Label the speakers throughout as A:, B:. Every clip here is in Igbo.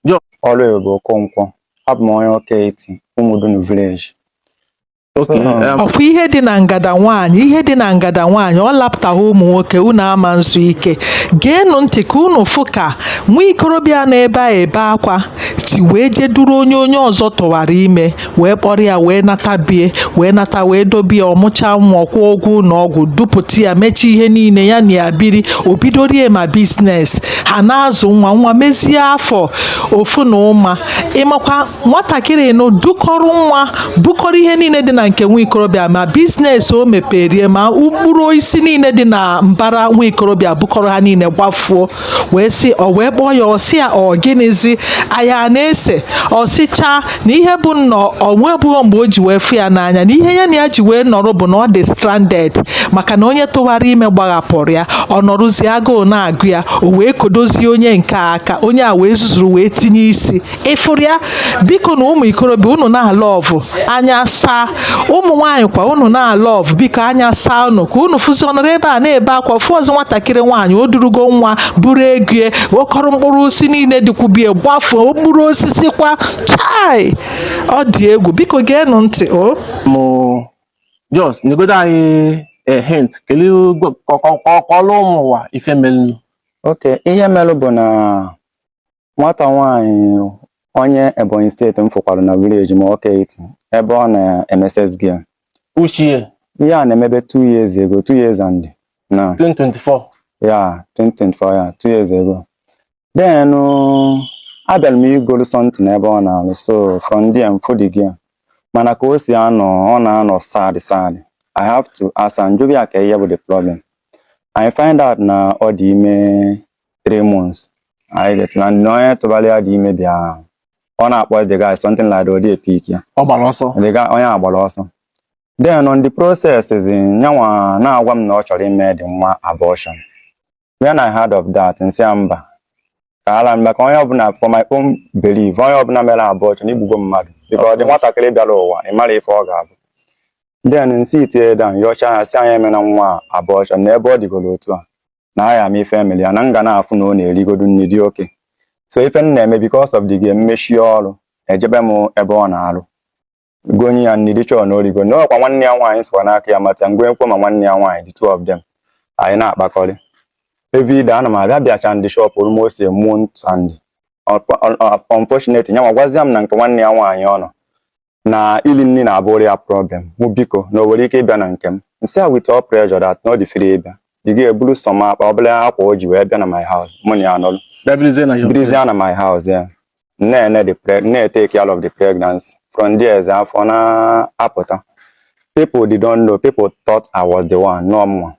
A: John Ọlụebube Okonkwo abụ m onye Ọka Etiti Umudunu village
B: okay So, um, ọkwa ihe
C: dị na ngada nwaanyị ihe dị na ngada nwaanyị ọ lapụtaghị ụmụ nwoke unu ama nzu ike geenụ ntị ka unu fụ ka nwa ikorobịa nọ ebe a ebe akwa si wee je duru onye onye ọzọ tụwara ime wee kpọrọ ya wee nata bie wee nata wee dobie ọ mụcha nwa ọ kwụọ ụgwọ ụlọ ọgwụ dupụta ya mechie ihe niile ya na ya biri o bidorie ma biznes ha na-azụ nwa nwa mezie afọ ofu na ụma ị makwa nwatakịrị nụ dukọrọ nwa bukọrọ ihe niile dị na nke nwa ikorobịa ma biznes o meperie ma mkpụrụ osisi niile dị na mbara nwa ikorobịa bukọrọ ha niile gbafuo wee sị o wee kpọọ ya ọ sị ya ọ gịnịzi anya na-ese ọ sịcha na ihe bụ na o nwebughọ mgbe o ji wee fụ ya n'anya na ihe ya na ya ji wee nọrọ bụ na ọ dị stranded maka na onye tụwara ime gbaghapụrụ ya ọ nọrụzi agụụ na-agụ ya o wee kodozie onye nke a ka onye a wee zuzuru wee tinye isi ị fụrụ ya biko na ụmụ ikorobịa unu na-alọvụ anya saa ụmụ nwaanyị kwa unu na-alọvụ biko anya saa unu ka unu fụzi ọ nọrọ ebe a na-ebe akwa fụ ọzọ nwatakịrị nwaanyị o durugo nwa buru ego ya bukọrọ mkpụrụ osisi niile dịkwu ubi ya gbafuo mkpụrụ osisi kwa chai ọ dị egwu biko geenụ ntị o
B: mụ just nyegodu anyị hint kelee kọọlụ ụmụ ụwa ife melụ okay ihe
A: melụ bụ na nwata nwaanyị onye Ebonyi steeti m fụkwara na village m Ọka Etiti ebe ọ na-eme sales girl. Which
B: year Ihe a na-emebe
A: two years ago, two years and na 2024
B: yeah 2024 yeah
A: two years ago. Then uh, abịara m igolu something ebe ọ na-alụ so from there m fụ the girl. Mana ka o si anọ, ọ na-anọ sad sad. I have to ask am, m jụba ya ka ihe bụ the problem. I find out na ọ dị ime three months I get to learn the onye tụbara ya the ime bịa ahụ ọ na-akpọ the guy something like that ọ dị epick ya ọ gbara ọsọ the guy
B: onye a gbara ọsọ
A: then on the process is nyanwa na-agwa m na ọ chọrọ ime the nwa abortion when I heard of that m sị ya mba ka ala mba ka onye ọbụla for my own belief onye ọbụla mere abortion egbugo mmadụ because the nwatakịrị bịara ụwa ị marọ ife ọ ga-abụ then m sit ya down yọcha ya sị ya emena nwa abortion na ebe ọ dịgoro otu a na agha m ife emere ya na m ga na-afụ na ọ na-erigodu nri dị okay so ife m na-eme because of the girl m mechie ọrụ ejebe m ebe ọ na-arụ gonye ya nri be sure na o rigo na ọkwa nwanne ya nwaanyị sikwa n'aka ya mata m gonyekwuo ma nwanne ya nwaanyị the two of them anyị na-akpakọrị everyday ana m abịa bịacha na the shop almost a month and unfortunately nyanwa gwazie m na nke nwanne ya nwaanyị ọ nọ na ili nri na-abụrụ ya problem mụ biko na o nwere ike ịbịa na nke m m sị ya with all pleasure that na ọ dị free ịbịa the girl eburu some akpa ọbụla akwa o ji wee bịa na my house mụ na ya nọrọ birizie na my house ya na-ene the preg na-etake care of the pregnancy from there eze afọ na-apụta people did not know people thought I was the one nwe nwa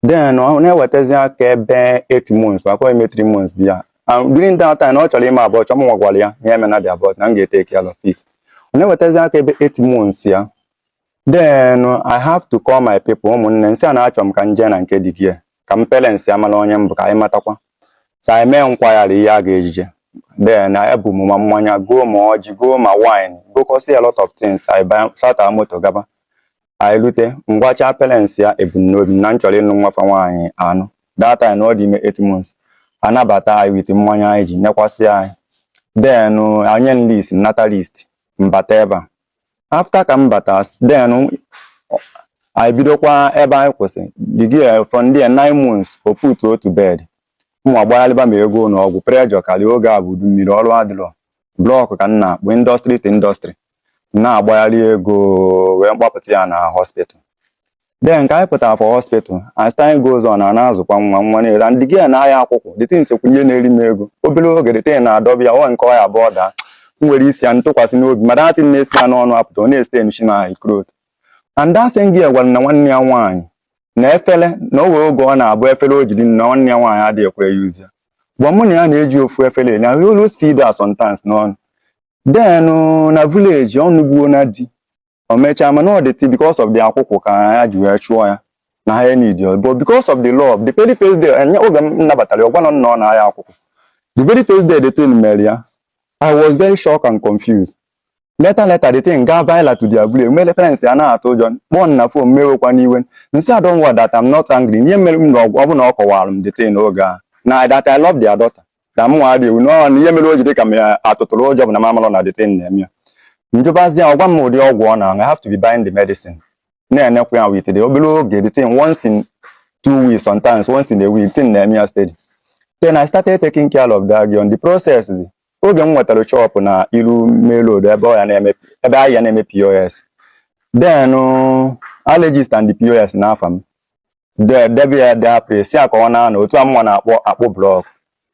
A: then ọ na-ewetazi aka ebe 8 months maka ọ dị ime 3 months bịa and during that time ọ chọrọ ime abortion mụnwa gwara ya na ya emena the abortion na m ga-etake care of it ọ na-ewetazi aka ebe 8 months ya then I have to call my people ụmụnne m sị ha na achọ m ka m jee na nke the girl ka parents ya mara onye m bụ ka anyị matakwa so anyị mee nkwagharị ihe a ga-eji je then I ebu m ma mmanya goo ma ọjị goo ma wine gokọsịa a lot of things I buy chata moto gaba anyị rute m gwacha parents ya ebumnobi na m chọrọ ịnụ nwa fa nwaanyị anụ that time na ọ dị ime 8 months a nabata anyị with mmanya anyị ji nekwasị anyị denye anyị list nata list m bata ebe a after ka m bata then anyị bidokwa ebe anyị kwụsị the girl from there nine months o put to bed mụ agbaghalịba ma ego ụlọ ọgwụ pressure karịa oge a bụ udu mmiri ọrụ adịrọ blọkụ ka m na-akpụ industry to industry na-agbagharị ego wee mgbapụta ya na hospital then ka anyị pụtara for hospital as time goes on a na-azụkwa nwa nwa na-ere and the girl na-arịa akwụkwụ the thing sokwu n'ihe na-eri m ego obere oge the thing na-adọba ya ọ nke ọya bụ ọ daa m were isi ya m tụkwasị n'obi ma that thing na-esi ya n'ọnụ apụta ọ na-estaincha my cloth and that same girl gwara m na nwanne ya nwaanyị na efere na o nwee oge ọ na-abụ efere o jiri na nwanne ya nwaanyị adịghị ekwe use ya gwa mụ na ya na-eji ofu efere eli I always feed her sometimes n'ọnụ then uh, na village ọ nọbuo na di o mechaa mana ọ the thing because of the akwụkwụ ka ha ji wee chụọ ya n'ani di ya but because of the love the very first day anya oge m nabatara ya, ọ gwarọ m na ọ na-arịa akwụkwụ the very first day the thing mere ya I was very shocked and confused later later the thing gaa viral to their village mere parents ya na-atụ ụjọ kpọọ m na phone m ewekwana iwe m sị ha don't worry that I'm not angry ihe mere m na ọ bụ na ọ kọwarọ m the thing oge a na that I love their daughter na mụ adị ewu n'ọrụ na ihe mere o ji dị ka mụ atụtụrụ ụjọ bụ na m amalọ na the thing na-eme ya m jụbazi ya ọ gwa m ụdị ọgwụ ọ na-aṅụ I have to be buying the medicine na-enekwa ya with the obere oge the thing once in two weeks sometimes once in a week thing na-eme ya steady then I started taking care of that girl on the process, oge m nwetara shop na iru main road ebe ọ ya na-eme ebe ahụ ya na-eme POS then uh, I registered the POS n'afa m de- debe ya there apụ sị ya ka ọ na-anọ otu a mụnwa na-akpụ blọk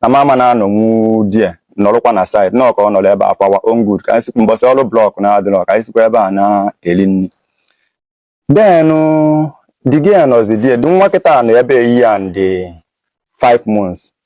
A: na m ama na-anọnwu there nọrụkwa na site nọọ ka ọ nọrọ ebe a for our own good ka anyị sikwa mbọsị ọrụ blọk na-adịrọ ka anyị sikwa ebe a na-eri nri then the girl nọzi there the nwa kịta nọ ebe a year and 5 months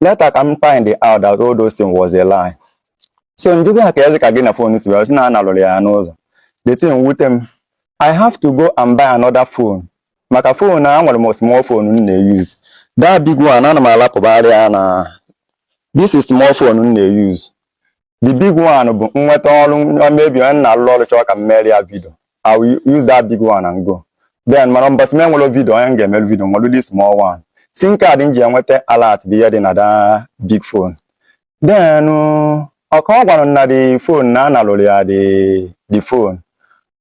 A: later ka m find out that all those things was a lie so m jụba ya kezi ka gị na fon si bịa ọ sị na a nalụrụ ya n'ụzọ the thing wute m i have to go and buy another phone maka fon a nwere m small phone m na-use that big one ana m alapụbara ya na this small phone m na-use the big one bụ m nweta ọrụ maybe onye m na-alụ ọrụ chọọ ka m meere ya vidio I will use that big one and go then mana mbọsị m enwerọ vidio onye m ga-emere vidio m were this small one SIM card m ji enweta alert bụ ihe dị na that big phone then ọ ka ọ gwara m na the phone na a nalụrụ ya the the phone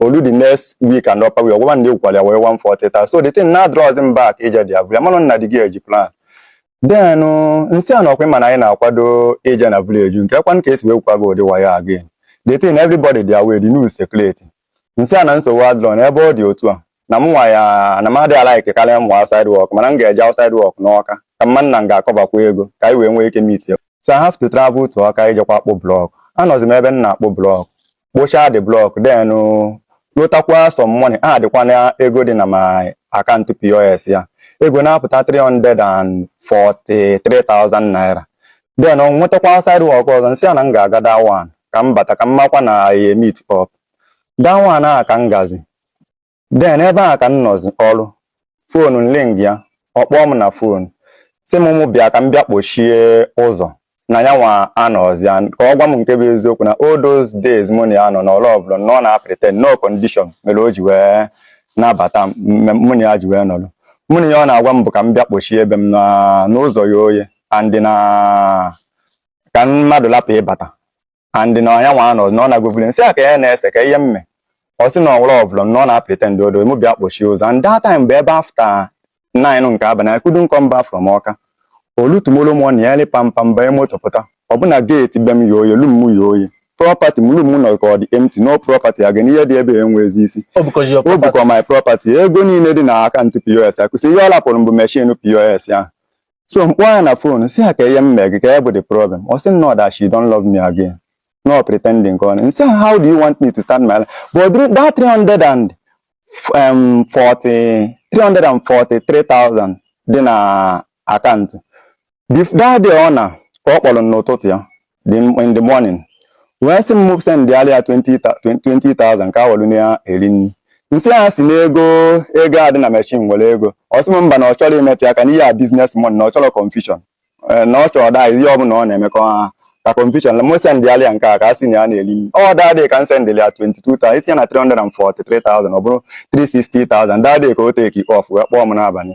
A: olu the next week and upper week ọ gwakwa m na egwukwara ya wayo 140,000 so the thing na draws m back ije dị abụrụ amanụ nna di gị eji plan then m sị ya na ọkwa ị ma na anyị na-akwado ije na village kekwanụ ka e si wee gwukwa gị ụdị wayo a again the thing everybody dị aware the news circulate m sị ya na nsogbu adịrọ na ebe ọ dị otu a na m nwa ya na m adịghị alaiki karịa m nwa outside work mana m ga-eje outside work n'Ọka ka m ma na m ga-akọbakwa ego ka anyị wee nwee ike meet ya so I have to travel to Ọka ijekwa akpụ blọk anọzi m ebe m na-akpụ blọk kpụchaa the block then lụtakwa some money addịkwa na ego dị na my account POS ya ego na-apụta 343,000 naira then m nwetakwa outside work ọzọ m sị ya na m ga-aga that one ka m bata ka m makwa na I meet up that one a ka m gazi then ebe ahụ ka m nọzi ọrụ fon m ringịa ọ kpọọ m na fon sị m mụ bịa ka m bịa kpọchie ụzọ na ya nwa anọzi ya ka ọ gwa m nke bụ eziokwu na all those days mụ na ya nọ na ọ lovụrọ m na ọ na-apretend na ọ condition mere o ji wee nabata m m- mụ na ya ji wee nọrọ mụ na ya ọ na-agwa m bụ ka m bịa kpọchie be m na ụzọ ye oye and na ka mmadụ lapụ ịbata and na ya nwa anọ na ọ na-agwebuli m sị ya kee ihe na-ese kee ihe m mee ọ sị na ọ lovụrọ m na ọ na-apretend odo mụ bịa kpọchie ụzọ and that time bụ ebe after nine nke abalị I couldn't come back from Ọka olu tomorrow morning ya ri pampam banye moto pụta ọbụna gate be m ye oye room m ye oye property m room m nọ ka ọ dị empty no property again ihe dị ebe enwezi isi O bukọsị ya own property. bukwa my property ego niile dị na akaụntụ POS akụsi ihe ọ lapụrụ m bụ meshin POS ahụ so m kpọọ ya na fon sị ya kee ihe m mee gị kee ihe bụ the problem ọ sị m no that she don't love me again na ọ pretending ka ọ nọ m sị ya how do you want me to start my life but during that 300 and um, 40 343,000 dị na akaụntụ Bef- that day ọ na ka ọ kpọrọ m n'ụtụtụ ya dị m in the morning wee sị m sendịara ya 20,000 ka ha welu na ya eri nri m sị ya si n'ego ego a dị na machine were ego ọ sị m mba na ọ chọrọ imetụ aka n'ihe a business money na ọ chọrọ confusion Eh, na ọ chọrọ that ihe ọbụla ọ na-emekọ ha ka confusion m sendịara ya nke a ka ha si na ya na-eri nri ọ that day ka m sendịrị ya 22,000 itinye na 343,000 ọ bụrụ 360,000 that day ka o take off wee kpọọ m n'abalị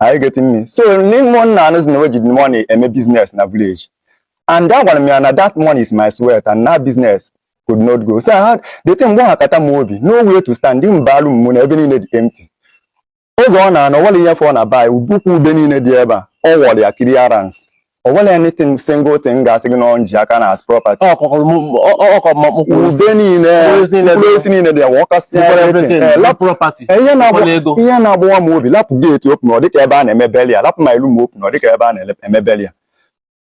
A: Are you getting me? So ndị ụmụnna anụzi na o ji the money eme business na village. And agwara m ha na that money is my sweat and that business could not go. So I had the thing gbawakata m obi, no way to stand m baa room mụ na ebe niile dị empty. Oge ọ na-ana o nwerọ ihe fọ na bai ukwu ube niile dị ebe a ọ wọrọ ya clearance o nwerọ anything single thing ga-asị gị na m ji aka now as property ube niile mkpụrụ osisi niile dị ya wọkasị ihe na-agbawa m obi lapụ gate open ọ dịka ebe a na-eme burial lapụ my room open ọ dịka ebe a na-eme burial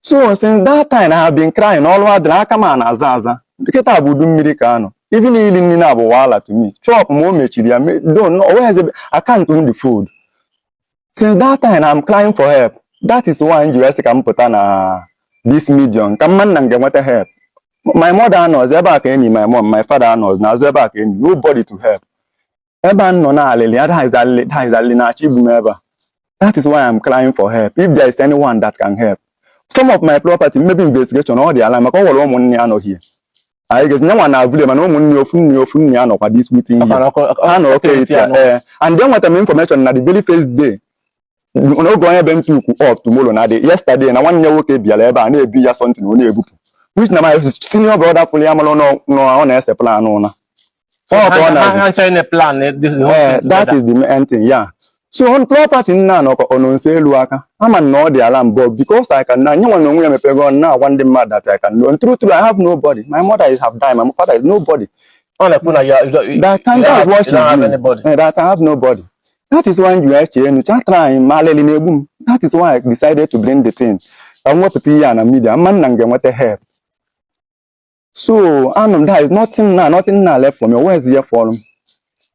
A: so since that time I have been crying ọlụ adịrọ aka m na-aza aza kịta bụ udu mmiri ka anọ even ili nri na-abụ wahala to me shop mụ emechiri ya down o nweghịzi account m dị food since that time I'm crying for help that is why m ji wee sị ka m pụta na this medium ka m ma na m ga-enweta help my mother anọzi ebe a ka enyi my mom my father anọzi n'azụ ebe a ka enyi nobody to help ebe a nọ na alịlị ya that is alịlị that is alịlị na-achọ igbu m ebe a that is why I'm crying for help if there is anyone that can help some of my property maybe investigation ọ dị around maka o nwere ụmụnne ya nọ here anyị ga-esi nyanwa na abụle mana ụmụnne ofu nne ofu nne ya nọkwa this meeting here ha na oke eti ya ee eh, and enwetara m information na the very first day n'oge onye be m took off tomorrow na the yesterday na nwanne ya nwoke bịara ebe a na-ebi ya something ọ na-ebupụ which na my senior brother fụrụ ya mara na ọ na-ese plan ụla So Ọ bụ ọ ha- na-azụ. ha ncha na plan eh, this whole Eh, thing that together. is the main thing, yeah. So on property nna anọkọ ọ nọ nso elu aka ama m na ọ dị around but because I can na nyanwa na onwe ya mepego ọnụ na-agwa ndị mmadụ that I can know. True, true, I have nobody. My mother is have died. My father is nobody. Ọ na-ekwu na
B: ya- you- you- That time
A: you don't that's have- what you don't have you do. anybody. Eh, that I have nobody. That is why you eche enu cha try m alịlị na-egbu m. That is why I decided to bring the thing. Ka m wepụta ihe a na media. M ma na m ga-enweta help. so anụ m there is nothing now nothing now left for me o nweghịzi ihe fọrọ m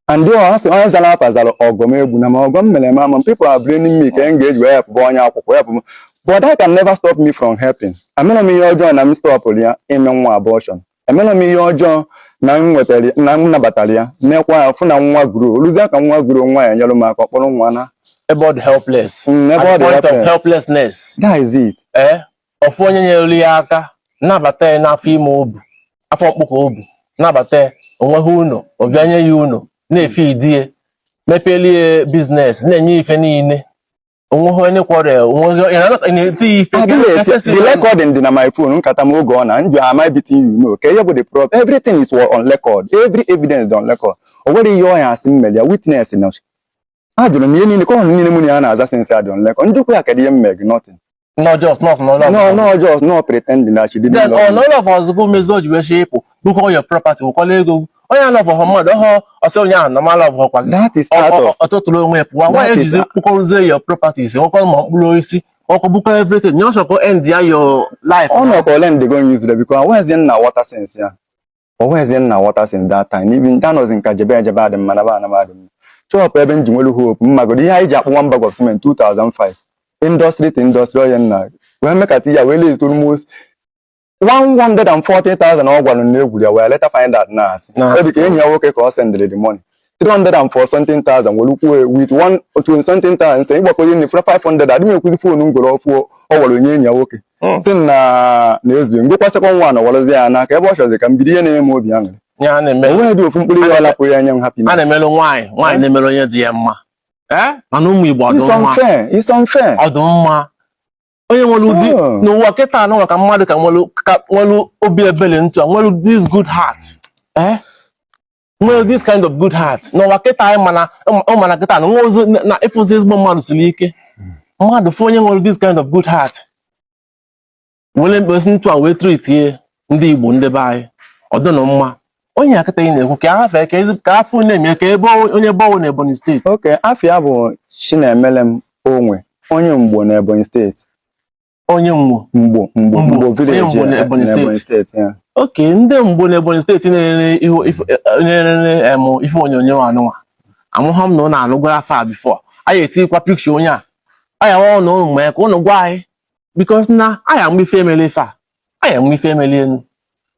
A: and though ha sị onye zara afa zara ọgọ m egbuna m ọgọ m mere m ama m people are blaming me ka m ga-eji wee helpụọ onye akwụkwọ help m but that can never stop me from helping emere m ihe ọjọọ na m stọpụrụ ya ime nwa abortion emere m ihe ọjọọ na m nwetara na m nabatara ya mekwa ya fụ na nwa growrụ o luzie ka nwa growrụ nwa ya nyere m aka ọ kpọrọ nwa na ebe ọ dị helpless
B: Mm, ebe ọ at the dị point of helpless. helplessness that is it
A: eh ọ fụ
B: onye nyere ya aka nabata ya n'afọ ime o bu afọ mkpụkọ o bu nabata ya onweghị ụlọ ọ bịa nye ya ụlọ na-efeedi ya mepeli ya business na-enye ife niile onweghị onye kwọrọ ya onweghị onye na-eti ya
A: ife the recording dị na my phone nkata m oge m na-ajụ am I beating you no kee ihe bụ the problem everything is on record every evidence dị on record o nwerọ ihe ọ ya-asị m mere ya witness na a jụrụ m ihe niile ka ọ hụrụ niile mụ na ya na-aza since adị nle ka m jụkwa ya kedụ ihe m mee gị nothing no just
B: nọs nọ lọv nọ nọ just no pretending na chidi then ọ nọ lọv ọzọ bụ
C: mezi o ji wee chie ịpụ bukọ your property wekọla ego gị. onye alọvọhụ mmadụ ọhụ ọ sị onye ahụ na m alọvọkwa gị that is out of ọ tụtụrụ onwe ya pụwa nwa That is- ejizi kpụkọrụzie your properties ọkọ ma mkpụrụ osisi ọkọ bukọ everything nye ọsọkọ end ya your life ọ nọkọ ole ndị go
A: use because nwezie m na-enweta since ya onweghịzi m na-enweta since that time even that anọzi m ka jebe ejebe adị mma naba anaba adị mma shọpụ ebe m ji nwelu hope ị magodu ihe anyị ji akpụ one bag of cement 2005 industry to industry onye nna wee mekata ya wee lezite almost 140,000 ọ gwara na egwuru ya wee later find out na asị Na asị. ebe ka enyi ya nwoke ka ọ sendịrị the money 340 something thousand were kwuo with 120 something thousand sị ị gbakọ ihe nefere 500 adịghị m ekwuzi foonu m goro ọfụụ ọ were nye enyi ya nwoke hmm. sị na na ezughị m gokwa second one a nawarazi ya n'aka ebe ọ chọzi ka m bido ihe na-eme obi aṅụrị onweghịdị ofu mkpụrụ ihe ọlapụ ya anya m happy a na-emere
B: nwaanyị nwaanyị eh? na-emere onye dị ya mma eh? mana ụmụ
A: Igbo ọ dụ
B: mma onye nwere ụdị n'ụwa kịta a nọ ka mmadụ ka nwere obi ebele ntụ a nwere this good heart eh? nwee this kind of good heart n'ụwa kịta anyị ma na ị ma na kịta na nwa ozu na ịfụzi ezigbo mmadụ siri ike mmadụ fụ onye nwere this kind of good heart were mkpesi ntụ a wee tritie ya ndị Igbo ndị be anyị ọ dụnụ mma onye a kịta ị na-ekwu ka afa ka ezi ka afa na-eme ka ebe onye ọ wụ na Ebonyi steeti okay afa ya bụ
A: Chinemelem Onwe onye Mgbo na Ebonyi steeti onye
B: mgbo mgbo
A: mgbo mgbo
B: village n'Ebonyi steeti okay ndị Mgbo n'Ebonyi steeti na-ele ife onyonyo anụnwa amaha m na ụnụ anụgwara afa before anyị etikwa picture onye a anyị awa ụnụ ụnụ mee ka ụnụ gwa anyị because na anyị ama ife emele ife a anyị ama ife emelenụ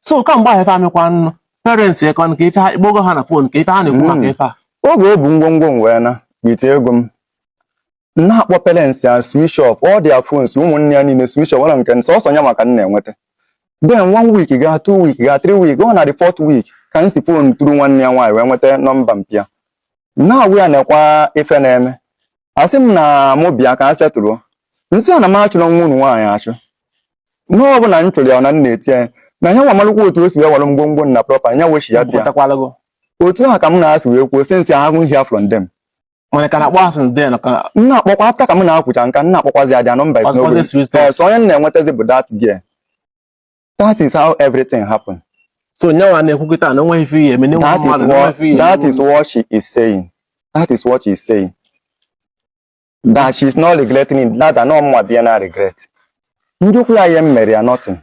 B: so ka mgbe ahụ ife emekwanụ parents ya kwa ka ife ha ị kpọgo ha na phone ka ife ha na-ekwu maka hmm. ife a oge o bu ngwongwo m
A: wee naa with ego m na-akpọ parents ya switch off all their phones ụmụnne ya niile switch off ọla nke sọsọ ya nwa ka m na-enweta then one week gaa two week gaa three week ọ na the fourth week ka m si phone through nwanne ya nwaanyị wee nweta nọmba mpa ya na-agwa ya nekwa ife na-eme asị m na mụ bịa ka a setụlụ m sị ya na m achụrọ nwa unu nwaanyị achụ na ọ bụrọ na m chụrụ ya na m na-eti ya na ya nwa malụkwa otu o si wee were ngwongwo na propa ya wechi ya dị ya Pụtakwala gị. otu ahụ ka m na ha si wee kwuo since I haven't hear from them mana ka na-akpọ
B: ha since then ka m na-akpọkwa after ka
A: m na ha kwucha nke a m na-akpọkwazi ya their nọmba is Ọzọkwazi n'ogbe switch off. yes onye m na-enwetazi bụ that girl that is how everything happen so nya
B: nwa na-ekwu kịta na onweghị ife ihe eme n'enwe that is mmadụ what n'enweghị ife ihe
A: that is what she is saying that is what she is saying that she is not regretting it that na ọ ma bịa na-aregret m jụkwa ya ihe m mere ya nothing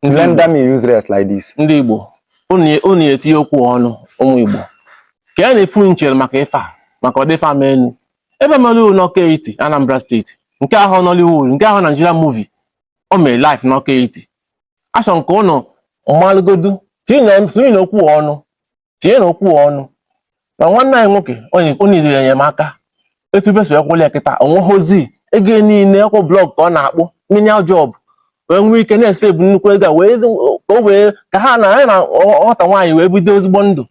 A: Render me useless like this. ndị
B: Igbo unu unu etinye okwu ọnụ ụmụ Igbo ka ya na-efu nchere maka ife a maka ọdịfa ama enu ebe mere uru n'Ọka Etiti Anambra steeti nke ahụ Nollywood nke ahụ Nigerian movie o mere live n'Ọka Etiti achọrọ m ka unu malụgodu tinyenụ okwu ọnụ tinyenụ okwu ọnụ na nwanne anyị nwoke onye needirị enyemaka etu ife si wee kwụlụ ya kịta o nweghịzi ego niile ọ kwa blọk ka ọ na-akpụ menial job wee nwee ike na-esevu nnukwu ego a wee ka o wee ka ha na anyị na ọ- nwata nwaanyị wee bido ezigbo ndụ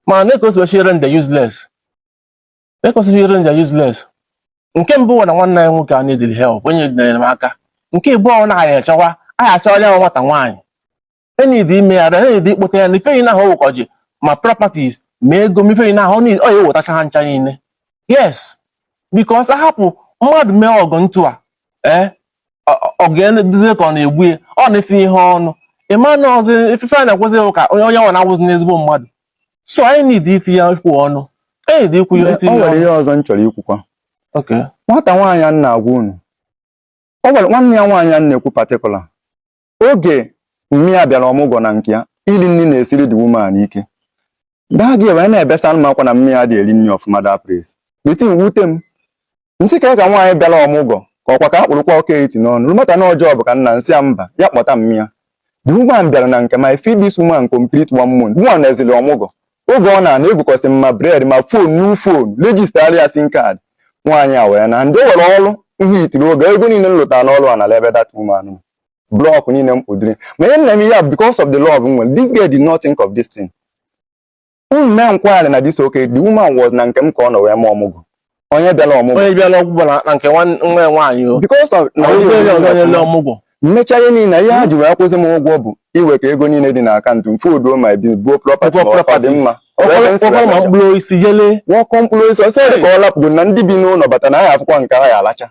B: ma nee ka o si wee si render ya useless nee ka o si wee si render ya useless nke mbụ bụ na nwanne anyị nwoke a needirị help o needirị enyemaka nke ịbụọ na anyị achọwa anyị achọwa ya nwata nwaanyị e need ime ya e need ịkpọta ya na ife niile ahụ ọ wụkọ ji ma properties ma ego ma ife niile ahụ ọ niile- ọ ya-ewetacha ha ncha niile yes because a hapụ mmadụ mee ọgụ ntụ a ee ọ ga-eneduzie ka ọ na-egbu ya ọ na-etinye ihe ọnụ ịma na ọzọ ife a na-ekwuzi bụ ka onye onye nwa na-awụzi n'ezigbo mmadụ so anyị need itinye okwu ọnụ anyị need ikwu ya itinye ọnụ o nwere ihe ọzọ m chọrọ
A: ikwukwa okay
B: nwata nwaanyị a m
A: na-agwa unu o nwere nwanne ya nwaanyị a m na-ekwu particular oge mummy ya bịara ọmụgwọ na nke ya iri nri na-esiri the woman ike that girl wee na-ebesa m akwa na mummy ya adị eri nri ọfụma that place the thing wute m m sị ka ka nwaanyị bịara ọmụgwọ ka ọkwa ka a kpụrụkwa Ọka Etiti n'ọnụ rụmata na ọjọọ bụ ka m na-asị ya mba ya kpọta mummy ya the woman bịara na nke I feed this woman complete one month nwa na-ezili ọmụgwọ oge ọ na-ana egokọsị m ma bread ma phone new phone register ya SIM card nwaanyị a wee na ndị o were ọrụ ihe itiri oge ego niile m lụtara n'ọrụ a nara ebe that woman nọ. blọk niile m kpụdịrị ma ihe m na-eme ihe a because of the love m nwere this girl did not think of this thing unu mee nkwagharị na this okay the woman was na nke m ka ọ nọ wee mee ọmụgwọ onye bịara ọmụgwọ onye bịara ọgwụgwọ na na nke
B: nwa- nwa ya nwaanyị o because of na onye
A: onye ọzọ nyere ọmụgwọ
B: ọmụgwọ m mecha ihe niile
A: ihe ha ji wee kwụsị m ụgwọ bụ iwekọ ego niile dị na akaụntụ m foduo ma ebi buo property Buo ma ọ dị properties. mma Wee m sị ọkwara ma wee m
B: kpụrụ isi jele nwa ọkọ m kpụrụ isi ọsọ
A: dị ka ọ lapụgo na ndị bi n'ụlọ bata na ha afụkwa nke ha ya alacha